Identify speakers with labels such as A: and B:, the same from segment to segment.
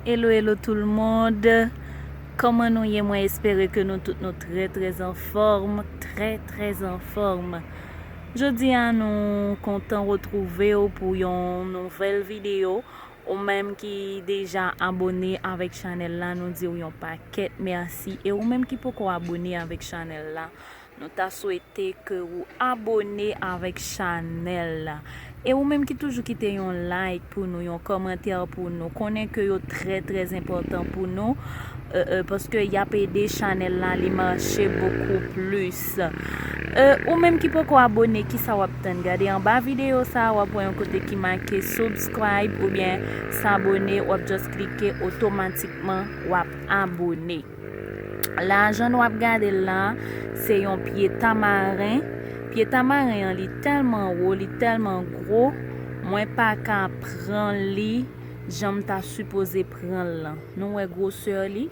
A: Hello hello tout le monde Koman nou ye mwen espere ke nou tout nou trè trè an fòm Trè trè an fòm Jodi a nou kontan retrouve ou pou yon nouvèl video Ou menm ki deja abone avèk chanèl la nou diw yon pakèt mèsi e ou menm ki poko abone avèk chanèl la nou ta swete ke ou abone avèk chanèl la e ou menm ki toujou kite yon like pou nou yon kòmantè pou nou konnen ke yo trè trè enpòtan pou nou paske yap ede chanèl la li mache bokou plis. Plus euh ou menm ki poko abone kisa wap tann gade anba video sa wap wè yon kote ki make subscribe oubyen s'abonner wap just klike otomatikman wap abone la jan nou ap gadel la se yon pye tamaren pye tamaren an li tèlman wo li tèlman gro mwen paka pran li janm ta sipoze pranl lan nou wè grosè li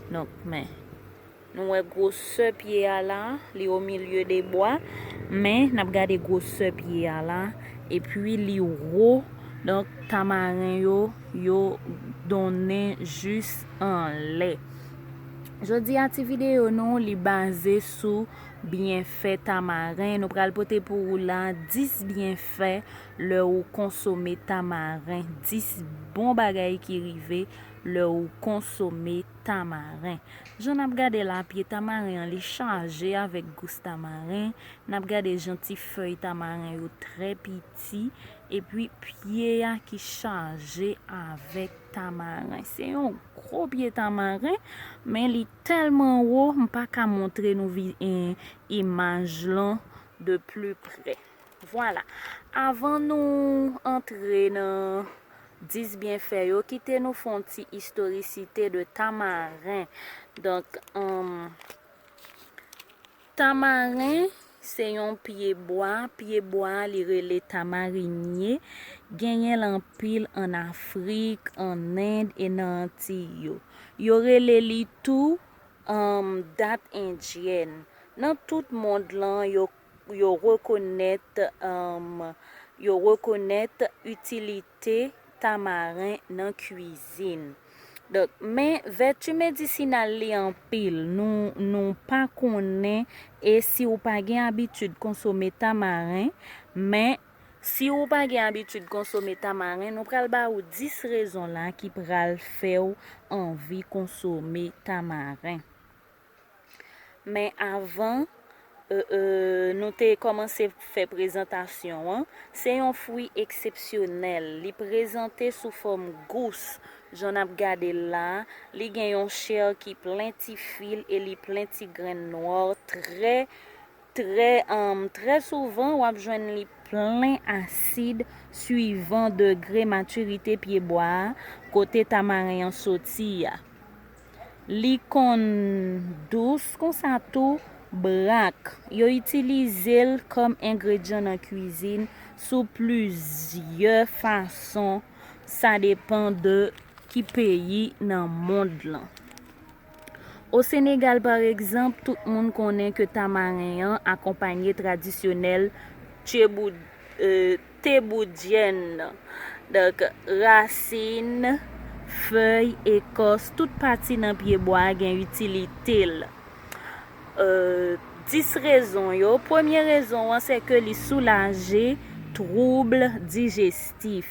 A: donk men. Nou wè gwosè pye a la, li o milye de bwa, men nap gade gwosè pye a la, epi li wo, donk tamaren yo, yo donnen jis anlè. Jodi a ti videyo nou li baze sou byenfè tamaren, nou pral pote pou ou la 10 byenfè lè ou konsome tamaren, 10 bon bagay ki rive lè ou konsome tamaren. tamaren. Jan nap gade la pye tamaren an li chaje avèk gous tamaren, nap gade jan ti fèy tamaren yo trè piti epi pye a ki chaje avèk tamaren. Se yon gwo pye tamaren men li tèlman wo m paka montre nou imaj lan de pli pre. Vwala, avan nou antre nan 10 byenfè yo, kite nou fè yon ti istorisite de tamaren. Donk, tamaren se yon pye bwa, pye bwa a li rele tamarinye, genyen l anpil an Afrik, an End e nan Antiy yo. Yo rele li tou dat endyèn. Nan tout mond lan, yo pou yo rekonèt yo rekonèt itilite tamaren nan kwizin donk men vèti medisinal li anpil nou nou pa konnen e si ou pa gen abitid konsome tamaren men si ou pa gen abitid konsome tamaren nou pral ba ou 10 rezon la ki pral fèw anvi konsome tamaren. Men avan nou te kòmanse fè prezantasyon an, se yon fwi eksepsyonèl, li prezante sou fòm gous, jan n ap gade l la, li gen yon chè ki plen ti fil e li plen ti grenn nwò trè. Trè humm trè souvan wap jwenn li plen asid swivan degre matirite pye bwa a kote tamaren an soti a li konn dous konsa tou brak yo itilize l kòm engredyan nan kwizin sou plizyè fason sa depan de ki peyi nan mond lan. O Senegal par egzanp, tout moun konnen ke tamaren an akonpanye tradisyonèl teboudyèn nan. Donk, rasin, fèy, ekòs, tout pati nan pye bwa a gen itilite l. Dis rezon yo, premye rezon an se ke li soulaje twoubl dijestif.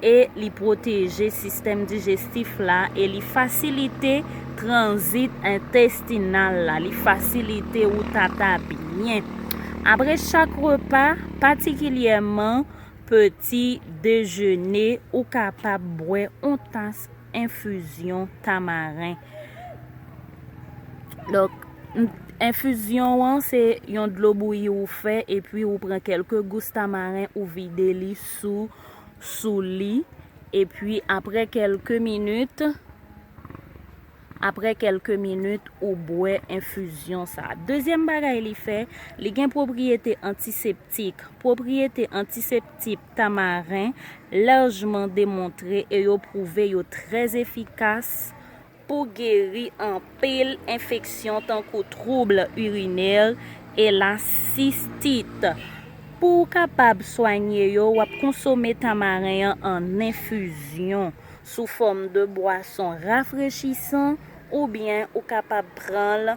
A: e li pwoteje sistèm dijestif la e li fasilite tranzit entestinal la, li fasilite ou tata byen apre chak repa, patikilyèman peti dejene, ou kapab bwè on tas enfizyon tamaren. Donk, enfizyon an se yon dlo bouyi ou fè epi ou pran kèlke gous tamaren ou vide li sou. sou li epi aprè kelke minit aprè kelke minit ou bwè enfizyon sa dezyèm bagay li fè li gen pwopriyete antiseptik pwopriyete antiseptik tamaren lajman demontre e yo pwouve yo trè efikas Pou geri anpil enfeksyon tankou trouble urinaire e la cystite. Pou ou kapab swanye yo wap konsome tamaren an an enfizyon, sou fòm de bwason rafrechisan oubyen ou kapab pranl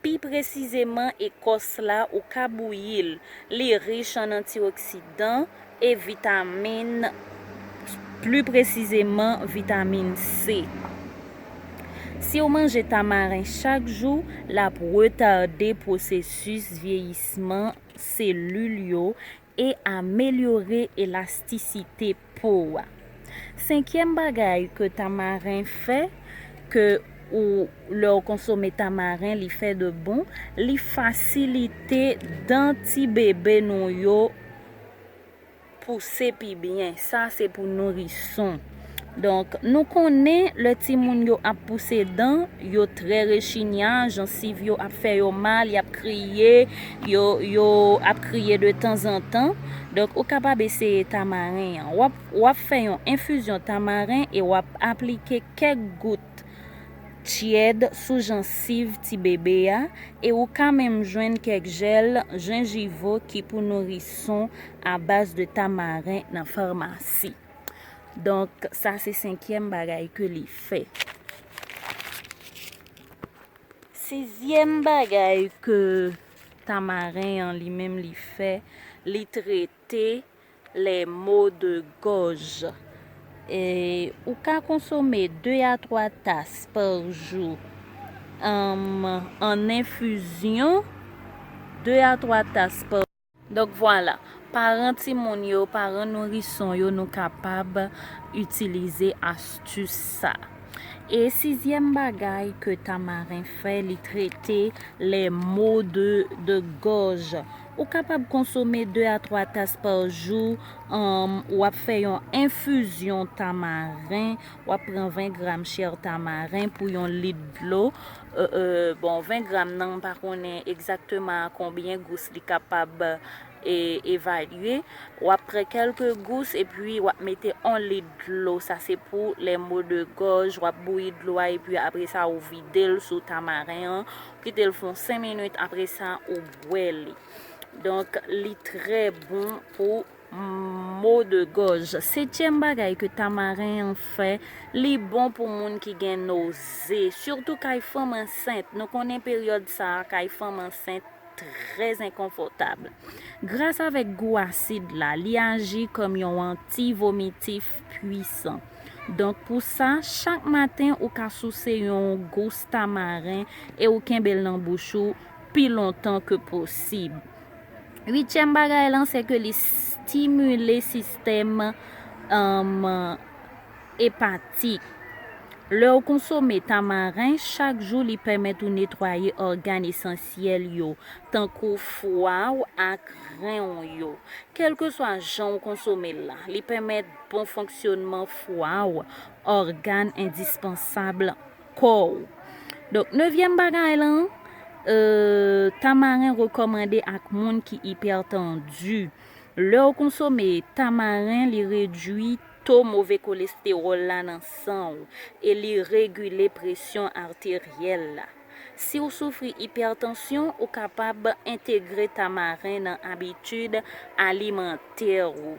A: Pi presizeman ekòs la ou ka bouyi l, li rich an antioksidan e vitamin pli presizeman vitamin C. Si w manje tamaren chak jou, l ap retade pwosesis vyeyisman selil yo E amelyore elastisite po ou a. Senkyèm bagay ke tamaren fè ke ou lè ou konsome tamaren li fè de bon li fasilite dan ti bebe nou yo pouse pi byen sa se pou nourison. Donk, nou konnen lè timoun yo ap pouse dan, yo trè rechinya, jansiv yo ap fè yo mal, y ap kriye, yo yo ap kriye de tanzantan. Donk, ou kapab eseye tamaren an. W ap w ap fè yon enfizyon tamaren e w ap aplike kèk gout tyèd sou jansiv tibebe a e ou ka menm jwenn kèk jèl jenjivo ki pou nourison abaz de tamaren nan farmasi. Donk, sa se senkyèm bagay ke li fè. Sizyèm bagay ke tamaren an li menm li fè, li trete lè mo de gòj. E, ou ka konsome 2 a 3 tas pa jou ann enfizyon, 2 a 3 tas pa. Donk vwala, paran timoun yo, paran nourison yo nou kapab itilize astus sa. E sizyèm bagay ke Tamarin fè li trete les maux de de gorge. Ou kapab konsome 2 a 3 tas par jou, humm, ou ap fè yon infusion tamarin, ou ap pran 20 gram chair tamarin pou yon lit dlo, Bon 20 gram nan m pa konnen egzakteman a konbyen gous li kapab evalye. W ap pran kèlke gous epi w ap mete 1 lit dlo, sa se pou les maux de gorge, w ap bouyi dlo a epi apre sa ou vide l sou tamaren an, ou kite l fè yon 5 minit apre sa ou bwè li. Donk li trè bon pou Maux de gorge. Setyèm bagay ke tamaren an fè, li bon pou moun ki gen noze, sitou kay fanm ansent, nou konnen peryòd sa kay fanm ansent trè enkonfòtab. Gras avèk gou asid la, li aji kòm yon anti vomitif pwisan. Donk pou sa, chak maten ou ka souse yon gous tamaren e ou kenbe l nan bouch ou pi lontan ke posib. Uityèm bagay lan se ke li stimile sistèm epatik. Lè ou konsome tamaren chak jou li pèmèt ou netwaye ògàn esansyèl yo tankou fwa ou ak ren ou yo. Kèlkeswa jan ou konsome l la, li pèmèt bon fonksyònman fwa ou, ògàn endispansab lan. kò ou. Donk nevyèm bagay lan, tamaren rekòmande ak moun ki ipètandu. Lè ou konsome tamaren li redwi to move kolestewòl la nan san ou e li regile presyon arteryèl la. Si ou soufri ipètansyon ou kapab entegre tamaren nan abitid alimantè ou.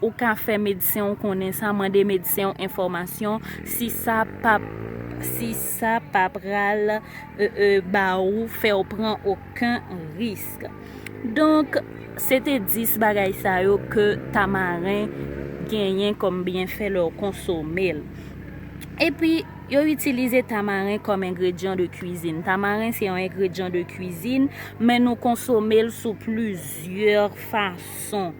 A: Ou ka fè medsen w konnen sa, mande medsen w enfòmasyon si sa pa si sa pa pral ba ou fè w pran oken risk. Donk, se te 10 bagay sa yo ke tamaren genyen kòm byenfè lè w konsome l. Epi, yo itilize tamaren kòm engredyan de kwizin. Tamaren se yon engredyan de kwizin, men nou konsome l sou plizyè fason.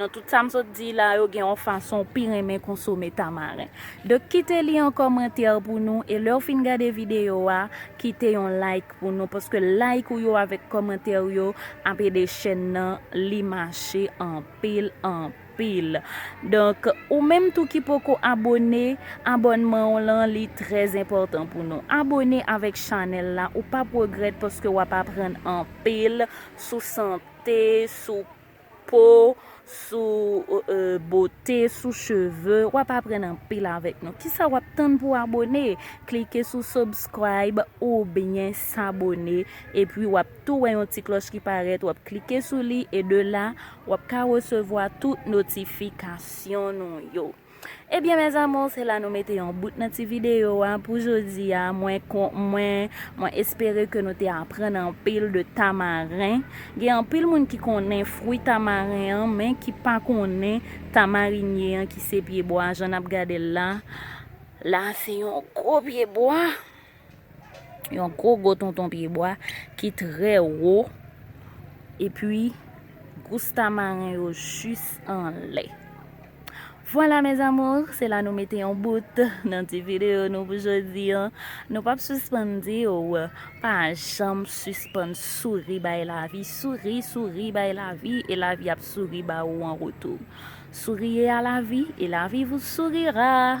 A: Nan tout sa m sot di la yo gen yon fason w pi renmen konsome tamaren. Donk kite li an kòmantè pou nou e lè w fin gade videyo a kite yon like pou nou paske like ou yo avèk kòmantè ou yo ap ede chèn nan li mache anpil anpil. Donk ou menm tou ki poko abone abònman w lan li trè enpòtan pou nou. Abone avèk chanèl la ou pap regrèt paske wap aprann anpil sou sante sou po, sou bote, sou cheve, wap aprann anpil avèk nou. Kisa wap tann pou abone? Klike sou subscribe oubyen s'abonner epi wap tou wè yon ti klòch ki parèt wap klike sou li e de la wap ka resevwa tout notifikasyon nou yo. Ebyen mes amours se la nou mete yon bout nan ti video a pou jodia mwen mwen mwen espere ke nou te aprann anpil de tamaren gen anpil moun ki konnen fwi tamaren an men ki pa konnen tamarinye an ki se pye bwa jan nap gadel la la se yon gwo pye bwa. Yon gwo gwo tonton pye bwa ki trè wo. E pi, gous tamaren yo jis anlè. Vwala mes amours, se la nou mete yon bout nan ti video nou pou jodi an. Nou pap sispann di ou, pa janm sispann souri bay lavi. Souri, souri bay lavi e lavi ap souri ba ou an retou. Souriez à la vie et la vie vous sourira.